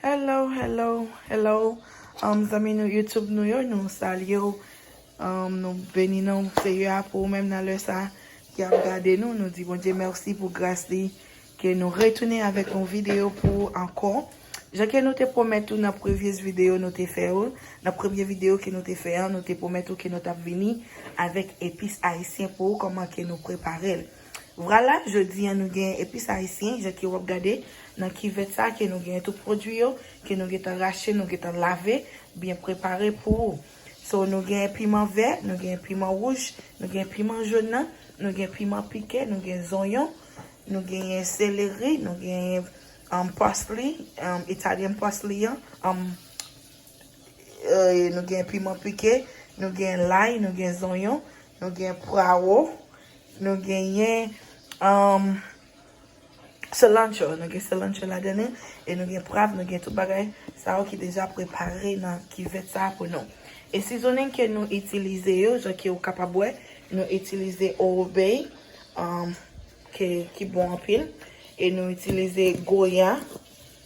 Hello hello hello um zanmi nou YouTube nou yo nou salye ou um nou beni non Seyè a pou ou menm nan lè sa ki ap gade nou nou di Bondye mèsi pou gras li ke nou retounen avèk yon videyo pou ou ankò jan ke nou te pwomèt ou nan previous videyo nou te fè ou nan premye videyo ke nou te fè an nou te pwomèt ou ke nou tap vini avèk epis ayisyen pou ou kòman ke nou preparel. Vwala, jodi an nou gen epis ayisyen, jan ke wap gade nan kivèt sa ke nou gen tout pwodwi yo, ke nou gentan rache, nou gentan lave, byen prepare pou ou. So nou gen piman vè, nou gen piman wouj, nou gen piman jòn nan, nou gen piman pike, nou gen zonyon, nou genyen seleri, nou genyen pasli, italyen pasli an, nou gen piman pike, nou gen lay, nou gen zonyon, nou gen pwawo, Nou genyen cilantro, nou gen cilantro ladan li e nou gen pwav, nou gen tout bagay sa yo ki deja prepare nan kivèt sa a pou nou. E seasoning ke nou itilize yo, jan ke ou kapab wè, nou itilize Old Bay ki bon anpil e nou itilize Goya.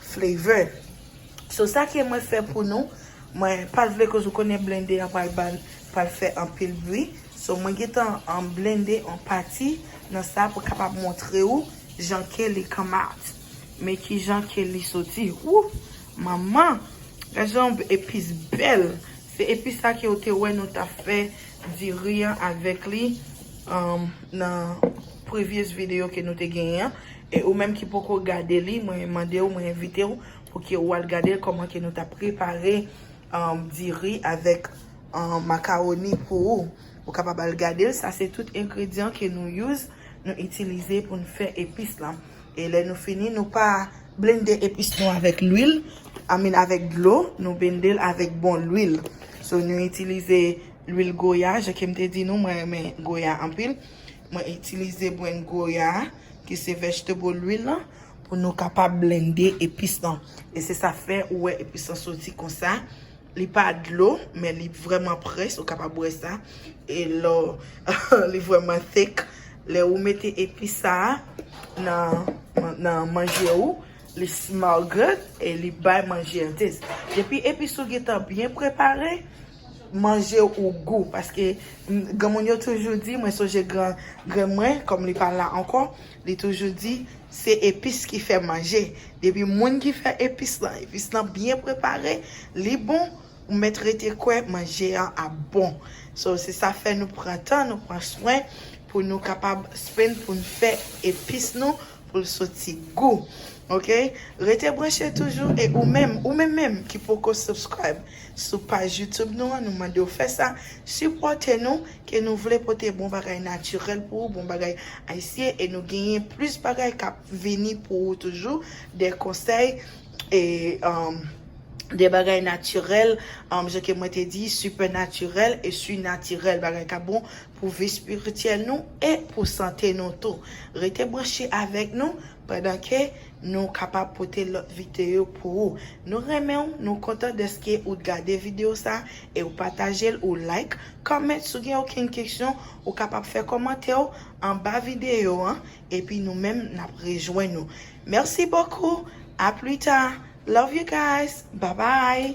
Flavor. So sa ke mwen fè pou nou, mwen pat vle koz ou konnen blende an pral bal pral fè anpil bri, so mwen gentan an blende an pati nan sa pou kapab montre ou jan ke li come out. Men kijan ke li soti. Ooh! Manman! Gad jan yon epis bèl! Se epis sa ke ou te wè nou ta fè diri an avèk li nan. previous video ke nou te genyen an e ou menm ki poko gade li mwen mande ou mwen envite ou pou ke ou al gadel kòman ke nou ta prepare diri avèk makawoni pou ou ou kapab al gadel sa se tout engredyan ke nou use nou itilize pou nou fè epis lan e lè nou fini nou pa blende epis nou avèk lwil I mean avèk dlo nou bendel avèk bon lwil so nou itilize lwil goya jan kem te di nou mwen renmen goya anpil. Mwen itilize brenn goya a ki se vegetable lwil lan pou nou kapab blende epis lan. E se sa fè ou wè epis lan soti konsa. Li pa dlo men li vrèman près ou kapab wè sa. E lò li vrèman thick. Lè ou mete epis sa a nan manje ou li smell good e li bay manje an taste. Depi epis ou gentan byen prepare manje ou gou paske granmoun yo toujou di mwen sonje gran grann mwen kòm li pa la ankò li toujou di se epis ki fè manje depi moun ki fè epis lan epis lan byen prepare li bon ou mèt rete kwè manje an ap bon so se sa fè nou pran tan nou pran swen pou nou kapab spin pou nou fè epis nou pou l soti gou ok rete branche toujou e ou menm ou menm menm ki poko subscribe sou paj youtube nou an nou mandew fè sa sipòte nou ke nou vle pote bon bagay natirèl pou ou bon bagay ayisyen e nou genyen plis bagay kap vini pou ou toujou de konsèy e de bagay natirèl jan ke mwen te di sipènatirèl e sinatirèl bagay kap bon pou vi spirityèl nou e pou sante nou tou. Rete branche avèk nou pandan ke nou kapab pote lòt viteyo pou ou. Nou renmen w, nou kontan dèske ou t gade video sa e ou pataje l, ou like, comment si w gen okenn keksyon ou kapab fè kòmantè w anba video an epi nou menm nap rejwenn ou. Merci beaucoup, a plus tard, love you guys, bye bye.